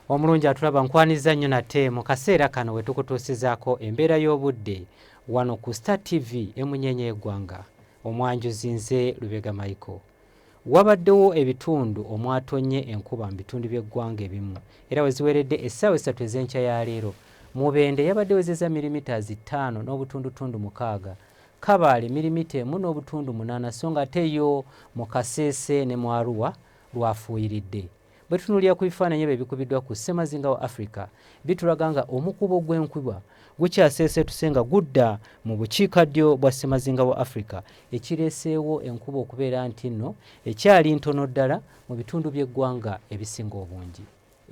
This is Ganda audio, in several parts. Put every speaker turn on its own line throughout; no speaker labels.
Omulungi atulaba nkwanizza nnyo nate mu kaseera kano we tukutuusizaako embeera y'obudde wano ku Star TV emunyeenya y'eggwanga omwanjuzi nze Lubega Michael. Wabaddewo ebitundu omwatonnye enkuba mu bitundu by'eggwanga ebimu era we ziweredde essaawa essatu ez'enkya ya leero Mubende yabadde wezeza mirimita zi ttaano n'obutundutundu mukaaga Kabaale mirimita emu n'obutundu munaana so ng'ate yo mu Kasese ne mu Arua lwafuuyiridde. Bwe tutunuulira ku bifaananyi ebyo ebikubiddwa ku ssemazinga wa Afrika, bitulaga nga omukuubo gw'enkubwa gukyaseeseetuse nga gudda mu bukiikaddyo bwa ssemazinga wa Afrika, ekireeseewo enkuba okubeera nti nno ekyali ntono ddala mu bitundu by'eggwanga ebisinga obungi.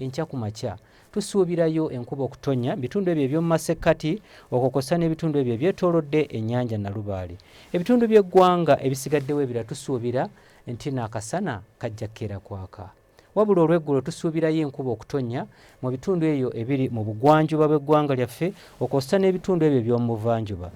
Enkya ku makya, tusuubirayo enkuba okutonnya mu bitundu ebyo eby'omu masekkati okwo kw'ossa n'ebitundu ebyo ebyetoolodde ennyanja Nalubaale. Ebitundu by'eggwanga ebisigaddewo ebirala tusuubira nti n'akasana kajja kukeera kwaka wabula olweggulo tusuubirayo enkuba okutonnya mu bitundu eyo ebiri mu bugwanjuba bw'eggwanga lyaffe okwosa n'ebitundu ebyo eby'omu buvanjuba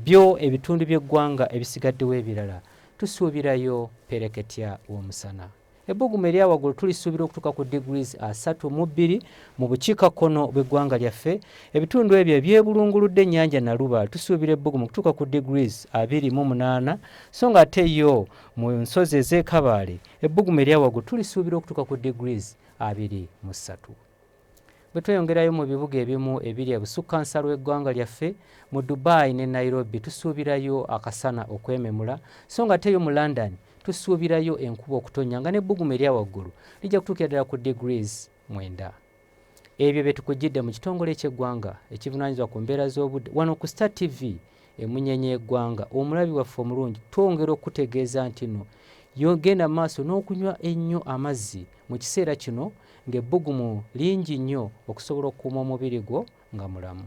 byo ebitundu by'eggwanga ebisigaddewo ebirala tusuubirayo pereketya w'omusana ebbugumu erya waggulu tulisuubira okutuuka ku degrees asatu mu bbiri mu bukiikakkono bw'eggwanga lyaffe ebitundu ebyo ebyebulunguludde ennyanja naluba tusuubira ebbugumu okutuuka ku degrees abiri mu munaana so nga ate yo Mu nsozi ez'e Kabaale, ebbugumu erya waggulu tulisuubira okutuuka ku degrees abiri mu ssatu. Bwe tweyongerayo mu bibuga ebimu ebiri ebusukkansalo w'eggwanga lyaffe, mu Dubai ne Nairobi tusuubirayo akasana okwememula, so nga ate yo mu London tusuubirayo enkuba okutonnya nga n'ebbugumu erya waggulu lijja kutuukira ddala ku degrees mwenda. Ebyo bye tukujjidde mu kitongole ky'eggwanga ekivunaanyizibwa ku mbeera z'obudde wano ku Star TV emunyenye y'eggwanga omulabi waffe omulungi twongera okukutegeeza nti no yogenda maaso n'okunywa ennyo amazzi mu kiseera kino ng'ebbugumu lingi nnyo okusobola okukuuma omubiri gwo nga mulamu.